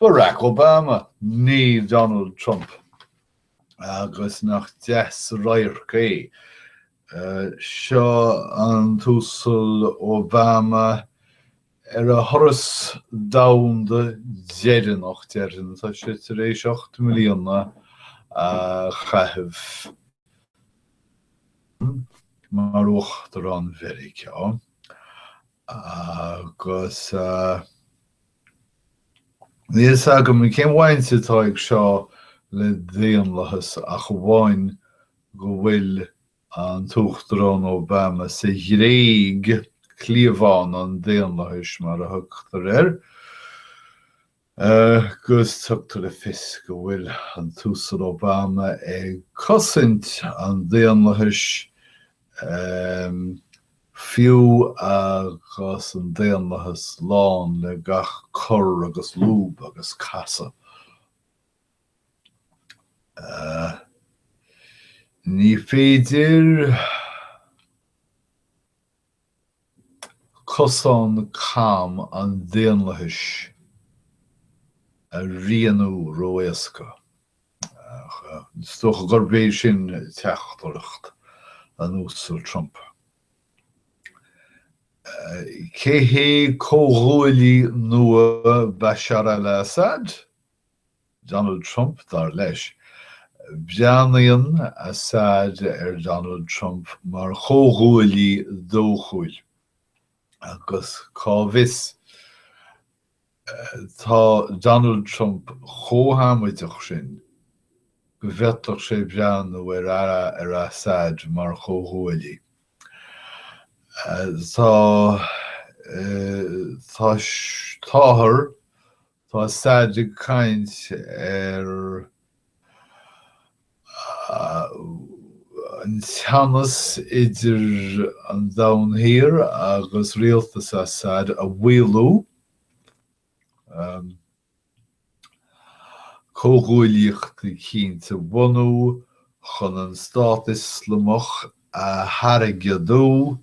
Barack Obama, ní Donald Trump, agus nach deas an radharc é. Seo an tUasal Obama ar a thuras domhanda deireanach, déarfainn, tá sé tar éis ocht mbliana a chaitheamh mar uachtarán Mheiriceá, Agus níl a fhios agam cén bhaint atá ag seo le daonlathas ach amháin go bhfuil an tUachtarán Obama sa Ghréig, cliabhán an daonlathais mar a thugtar air. Agus tugtar le fios go bhfuil an tUasal Obama ag cosaint an daonlathais, fiú agus an daonlathas lán le gach cor agus lúb agus casadh. Ní féidir. Cosán cam an daonlathais a rianú ró-éasca. Is dócha gurb é sin teachtaireacht an Uasail Trump. Cé hé comhghuaillí nua Bashar al-Assad? Donald Trump, dar leis. Breathnaíonn Assad ar Donald Trump mar chomhghuaillí dóchúil, agus cá bhfios, tá Donald Trump chomh hamaideach sin go bhféadfadh sé breathnú ar Assad mar chomhghuaillí. Tá, tá, táthar. Tá Assad ag caint ar an teannas idir an Domhan Thiar agus rialtas Assad a mhaolú, comhghuaillíocht chinnte a bhunú chun an Stát Ioslamach a thargaidiú,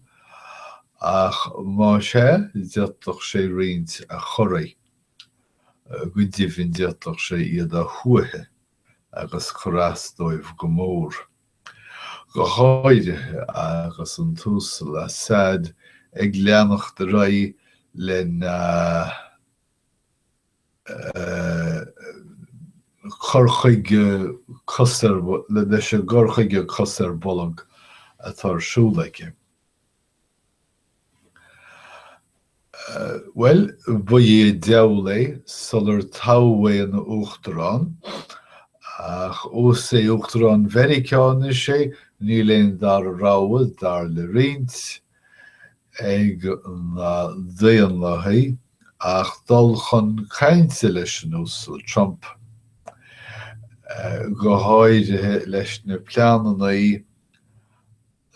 ach más é, d'fhéadfadh sé roinnt a chorraí, go deimhin d'fhéadfadh sé iad a shuaitheadh agus cur as dóibh go mór. Go háirithe agus an tUasal Assad ag leanacht ar aghaidh lena. cur chuige cosúil leis an gcur chuige cos ar bolg atá ar siúl aici. Bhuel, ba é an diabhal é sular toghadh é ina Uachtarán, ach ós é Uachtarán Mheiriceá anois é, níl aon dara rogha, dar le roinnt, ag na Daonlathaigh ach dul chun cainte leis an Uasal Trump, go háirithe leis na pleananna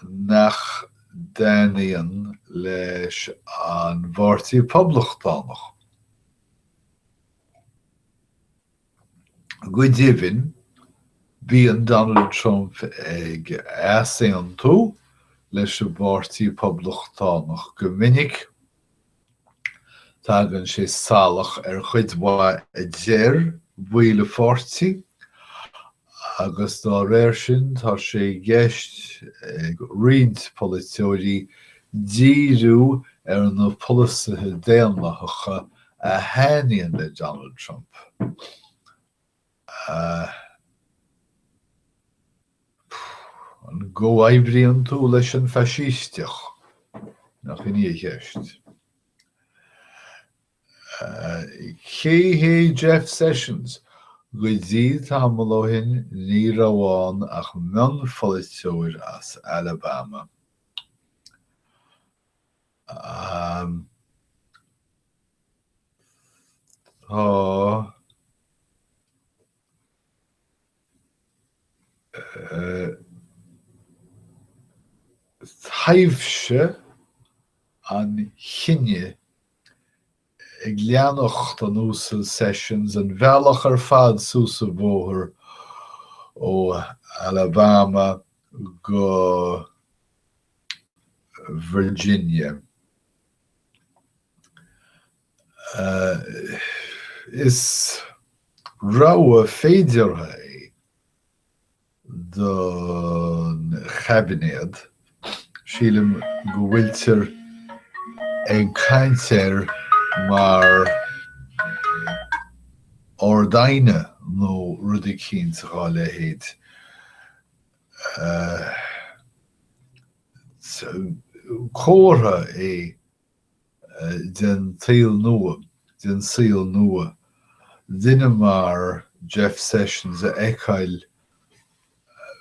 nach dtaitníonn leis an bPáirtí Poblachtánach. Go deimhin, bíonn Donald Trump ag easaontú leis an bPáirtí Poblachtánach go minic. Tagann sé salach ar chuid mhaith a deir a pháirtí agus dá réir sin tá sé i gceist ag roinnt polaiteoirí díriú ar na polasaithe daonlathacha a thaitníonn le Donald Trump, an gcomhoibríonn tú leis an faisísteach? Nach in í an cheist. Cé hé Jeff Sessions? Go dtí tamall ó shin ní raibh ann ach mionpholaiteoir as Alabama. Tá taibhse an chiníochais ag leanacht an Uasail Sessions an bealach ar fad suas an bóthar ó Alabama go Virginia. Is rogha féideartha é é don chaibinéad. Sílim go bhfuiltear ag caint air mar ard-aighne nó rud eicínt dhá leithéid. Comhartha é den tsaol nua, den saol nua, duine mar Jeff Sessions a fheiceáil,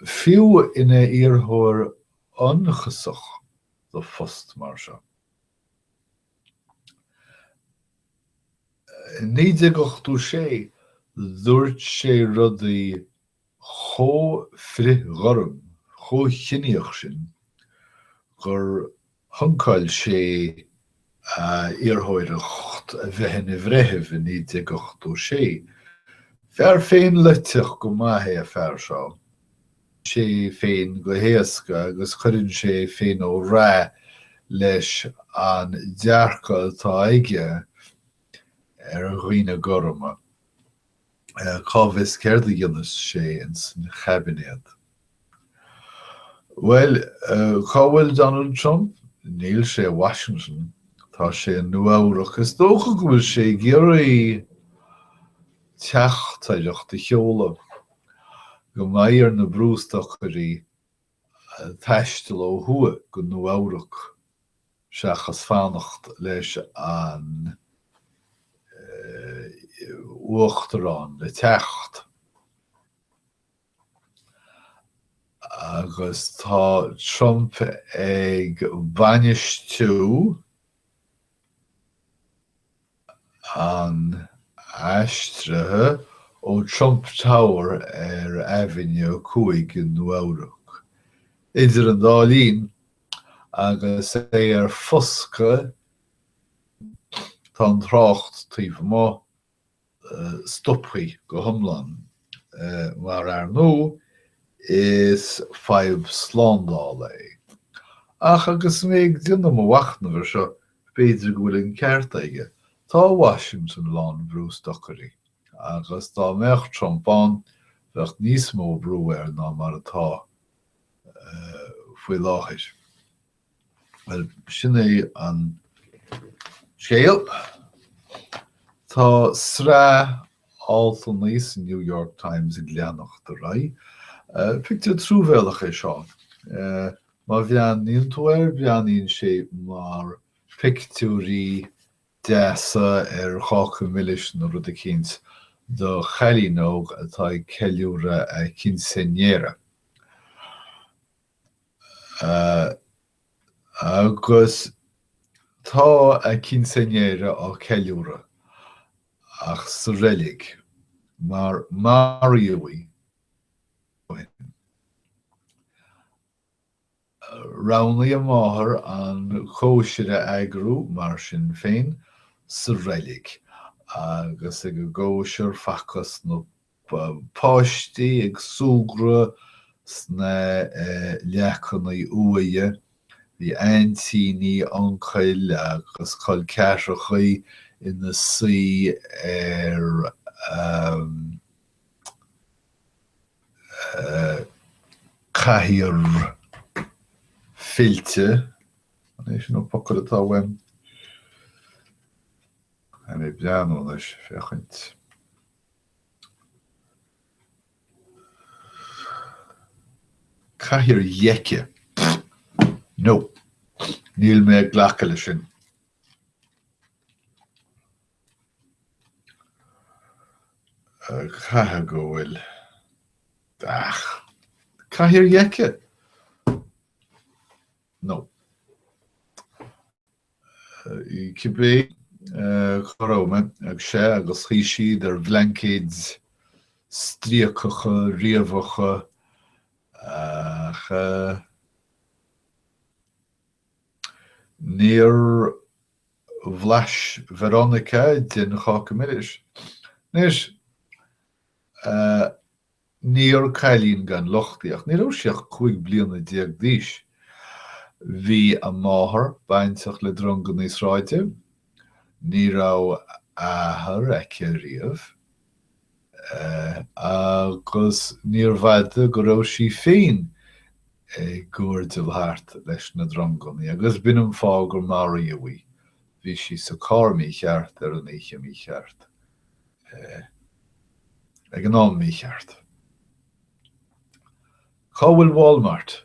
fiú, ina iarrthóir ionchasach do phost mar seo. In 1986 dúirt sé rudaí chomh frithghorm, chomh ciníoch sin gur shuncáil sé a iarrthóireacht a bheith ina bhreitheamh i 1986. Fear féinleitheadach go maith é an fear seo, sé féin go héasca agus cuireann sé féin ó ráth leis an dearcadh atá aige ar dhaoine gorma. Cá bhfios céard a dhéanas sé ins an chaibinéad? Bhuel, cá bhfuil Donald Trump? Níl sé i Washington. Tá sé i Nua-Eabhrac. Is dócha go bhfuil sé ag iarraidh teachtaireacht a sheoladh, go gcaithfidh na brústocairí taisteal ó thuaidh go Nua-Eabhrac seachas fanacht leis an uachtarán le teacht. Agus tá Trump ag bainistiú. an aistrithe ó Trump Tower ar Avenue a Cúig i Nua-Eabhrac. Idir an dá linn, agus é ar foscadh, tá an trácht taobh amuigh stoptha go hiomlán, mar ar ndóigh is fadhb slándála é. Ach agus mé ag déanamh mo mhachnaimh ar seo, B'fhéidir go bhfuil an ceart aige. Tá Washington lán brústocairí agus dá mbeadh Trump ann bheadh níos mó brú air ná mar atá faoi láthair. Bhuel, sin é an scéal. Tá sraith altanna sa New York Times ag leanacht ar aghaidh. Pictiúr truamhéalach é seo. Má bhreathnaíonn tú air breathnaíonn sé mar pictiúirí deasa ar cháca milis nó rud eicínt do chailín óg atá ag ceiliúradh a quinceañera. Agus tá a quinceañera á ceiliúradh, ach sa reilig, mar maraíodh í. Roghnaigh a máthair an cóisir a eagrú, mar sin féin, sa reilig, agus ag an gcóisir facthas na páistí ag súgradh sna leacannaí uaighe. Bhí aintíní, uncail agus col ceathrachaí ina suí ar. cathaoir fillte, an é sin an focal atá uaim? Tá mé ag breathnú anois féachaint. Cathaoir dheice. No, níl mé ag glacadh leis sin. Caithfidh go bhfuil. Cathaoir dheice? Nó cibé cá raibh mé agus sea agus shuigh siad ar bhlaincéid stríocacha, riabhacha ach níor bhlais Veronica den cháca milis. Anois, níor cailín gan locht í, ach ní raibh sí ach cúig bliana déag d'aois. Bhí a máthair bainteach le drongannaí sráide. Ní raibh athair aici riamh. agus níorbh fhada go raibh sí féin ag guairdeall thart leis na drongannaí agus b'in an fáth gur maraíodh í. Bhí sí sa carr mícheart ar an oíche mícheart ag an am mícheart. Cá bhfuil Walmart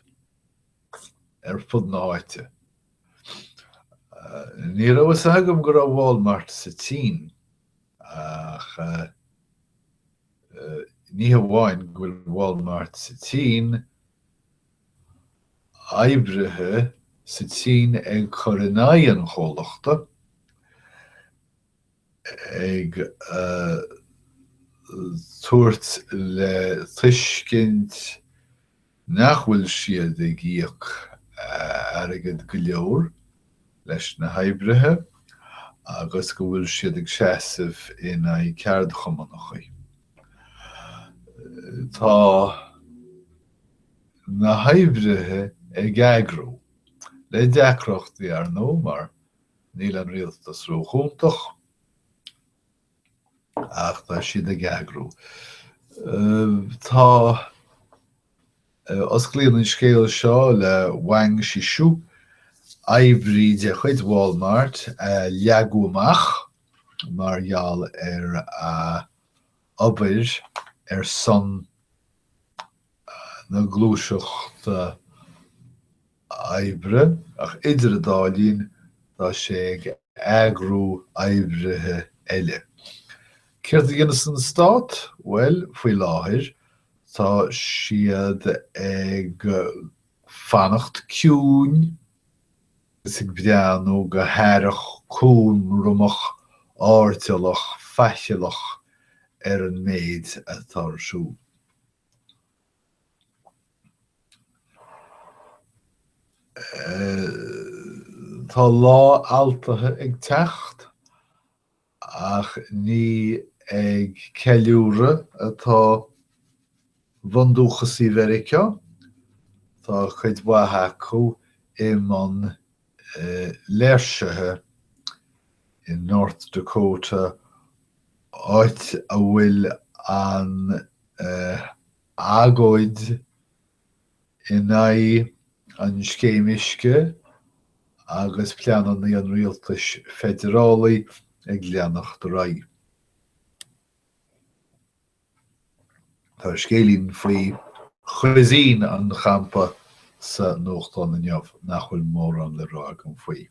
ar fud na háite? Ní raibh fhios agam go raibh Walmart sa tSín. Ach ní hamháin go bhfuil Walmart sa tSín, oibrithe sa tSín ag cur in aghaidh an chomhlachta, ag tabhairt le tuiscint, nach bhfuil siad ag íoc airgead go leor leis na hoibrithe agus go bhfuil siad ag seasamh in aghaidh ceardchumannachaí. Tá na hoibrithe ag eagrú le deacrachtaí, ar ndóigh, mar níl an rialtas ró-chúntach ach tá siad ag eagrú. Tá Osclaíonn an scéal seo le Wang Shishu, oibrí de chuid Wal-Mart, a leagan amach mar gheall ar a obair ar son na gluaiseachta oibre, ach idir a dá linn tá sé ag eagrú oibrithe eile. Céard a dhéanas an stát? Bhuel, faoi láthair, tá siad ag fanacht ciúin ag breathnú go haireach, cúramach, airdeallach faichilleach ar an méid atá ar siúl. Tá Lá Altaithe ag teacht, ach ní ag ceiliúradh atá bundúchasaigh Mheiriceá, tá cuid mhaith acu i mbun léirsithe i North Dakota, áit a bhfuil an. agóid in aghaidh an scéim uisce agus pleananna an rialtais feidearálaigh ag leanacht ar aghaidh. Tá scéilín faoi chuisín an champa sa nuachtán inniu nach bhfuil mórán le rá agam faoi.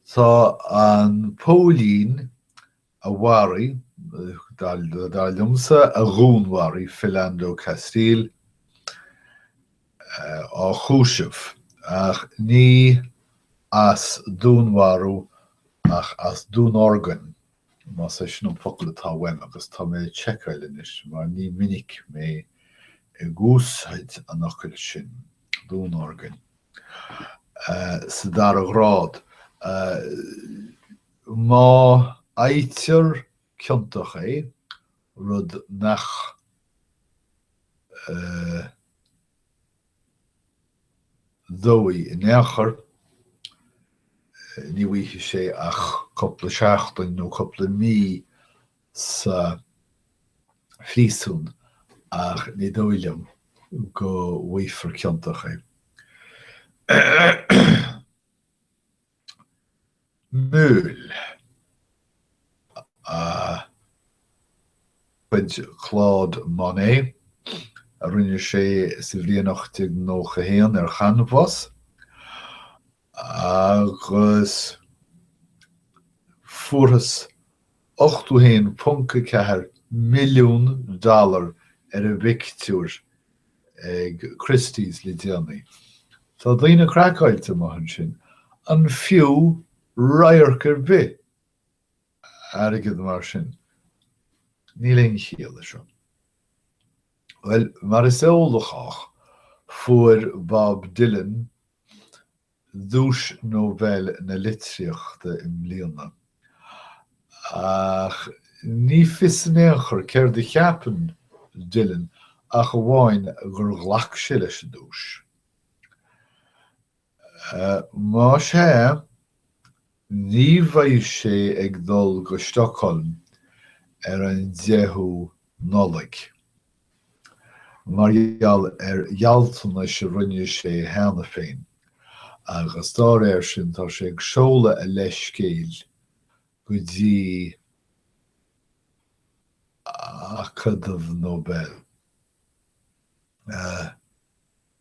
Tá an póilín a mharaigh, dar liomsa, a dhúnmharaigh Philando Castile, á chúiseamh, ach ní as dúnmharú ach as dúnorgain, más é sin an focal atá uaim, agus tá mé ag seiceáil anois, mar ní minic mé ag úsáid an fhocail sin, dúnorgain, sa dara grád. Má fhaightear ciontach é, rud nach dóigh in aon chor, ní bhfaighidh sé ach cúpla seachtain nó cúpla mí sa phríosún ach ní dóigh liom go bhfaighfear ciontach é. Meule de chuid Claude Monet, a rinne sé sa bhliain 1891 ar chanbhás, agus fuarthas 81.4 milliún dollar ar an bpictiúr ag Christie's le déanaí. Tá daoine craiceáilte amuigh ansin, an fiú radharc ar bith airgead mar sin? Níl aon chiall leis seo. Bhuel, mar is eol do chách, fuair Bob Dylan, Duais Nobel na Litríochta i mbliana. Ach ní fios in aon chor céard a cheapann Dylan ach amháin gur ghlac sé leis an duais. Má sea, Ní bheidh sé ag dul go Stockholm ar an 10ú Nollaig mar gheall ar ghealltanais a rinne sé cheana féin agus dá réir sin tá sé ag seoladh a leithscéil go dtí Acadamh Nobel.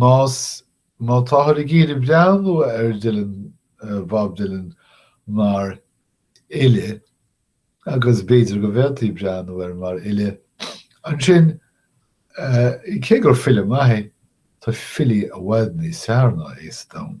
Más má táthar ag iarraidh breathnú ar Dylan, Bob Dylan, mar fhile, agus b'fhéidir go bhféadfaí breathnú air mar fhile, ansin, cé gur file maith é, tá filí i bhfad níos fearr ná é sa domhan.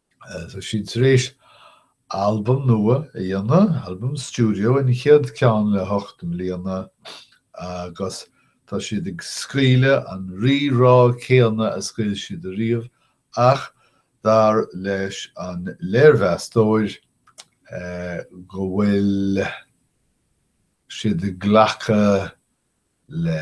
Tá siad thar éis albam nua a dhéanamh, albam stiúideo, an chéad ceann le hocht mbliana, agus tá siad ag scaoileadh an rí-rá céanna a scaoil siad ariamh ach dar leis an léirmheastóir go bhfuil siad ag glacadh le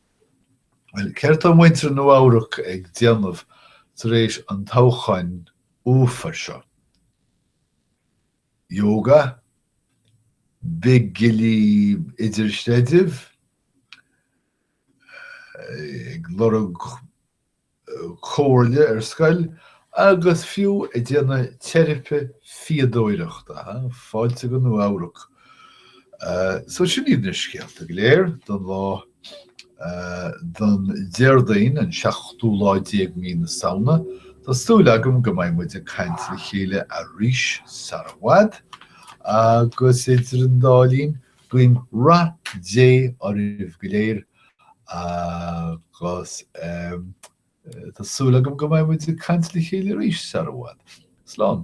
Bhuel, céard tá muintir Nua-Eabhrac ag déanamh tar éis an toghcháin uafar seo? Yoga? Bigilí idirchreidimh? Ag lorg comhairle ar scoil agus fiú ag déanamh teiripe fíodóireachta, fáilte go Nua Eabhrac! So sin iad na scéalta go léir don lá don Déardaoin an seachtú lá déag mí na Samhna. Tá súil agam go mbeidh muid ag caint le chéile arís sara bhfad agus idir an dá linn Guím rath Dé oraibh go léir agus tá súil agam go mbeidh muid ag caint le chéile arís sar i bhfad. Slán.